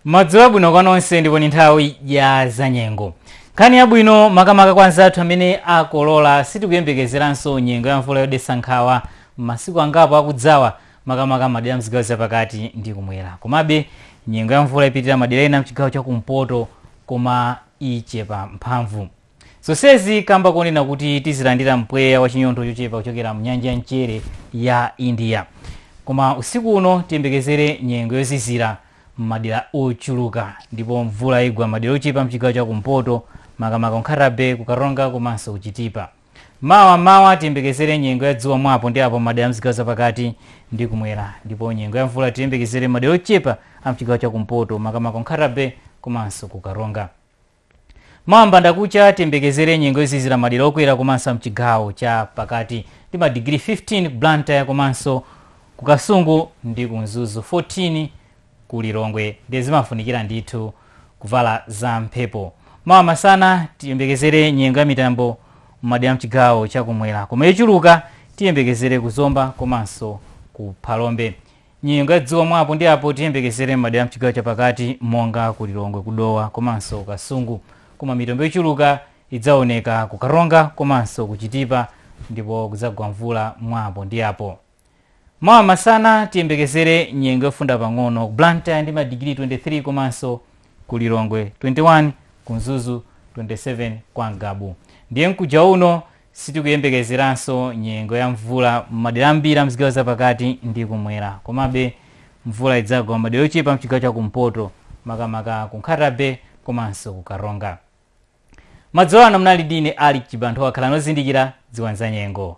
Madzulo abwino kwa nonse ndipo ni nthawi ya zanyengo. Nkhani yabwino makamaka kwa anzathu amene akolola sitikuyembekezeranso nyengo ya mvula yodetsa nkhawa m'masiku angapo akudzawa makamaka madera mzigawo zapakati ndi kumwera. Komabe nyengo ya mvula ipitirira madera ena mchigawo cha kumpoto koma ichepa mphamvu. Zonsezi kamba konena kuti tizilandira mpweya wa chinyontho chochepa kuchokera mnyanja ya mchere ya India. Koma usiku uno tiyembekezere nyengo yozizira m'madera ochuluka ndipo mvula igwa m'madera ochepa mchigawo cha kumpoto makamaka ku Nkhata Bay, ku Karonga komanso ku Chitipa. Mawa mmawa tiyembekezere nyengo ya dzuwa mwa apo ndi apo m'madera a mzigawo zapakati ndi kumwera ndipo nyengo ya mvula tiyembekezere m'madera ochepa a mchigawo cha kumpoto makamaka ku Nkhata Bay komanso ku Karonga. Mawa mbanda kucha tiyembekezere nyengo yozizira madera okwera komanso amchigawo cha pakati ndi ma digiri 15 Blantyre komanso ku Kasungu ndi ku Mzuzu 14 ku Lilongwe ndiye zimafunikira ndithu kuvala za mphepo. Mawa masana tiyembekezere nyengo ya mitambo mmadera amchigawo cha kumwera koma yochuluka tiyembekezere ku Zomba komanso ku Phalombe. Nyengo ya dzuwa mwa apo ndi apo tiyembekezere m'madera a m'chigawo chapakati monga ku Lilongwe, ku Dowa komanso ku Kasungu. Koma mitambo yochuluka idzaoneka ku Karonga komanso ku Chitipa ndipo kudzagwa mvula mwa apo ndi apo. Mawa masana tiyembekezere nyengo yofunda pang'ono Blantyre ndi madigiri 23 komanso ku Lilongwe 21, ku Mzuzu 27, kwa Ngabu ndiye mkuja uno Sitikuyembekezeranso nyengo ya mvula m'madera ambiri a m'zigawo zapakati ndi kumwera. Komabe, mvula idzagwa m'madera ochepa a m'chigawo cha kumpoto, makamaka ku Nkhata Bay komanso ku Karonga. Madzulo ano munali ndi ine Alick Chibanthowa. Khalani ozindikira, dziwani zanyengo.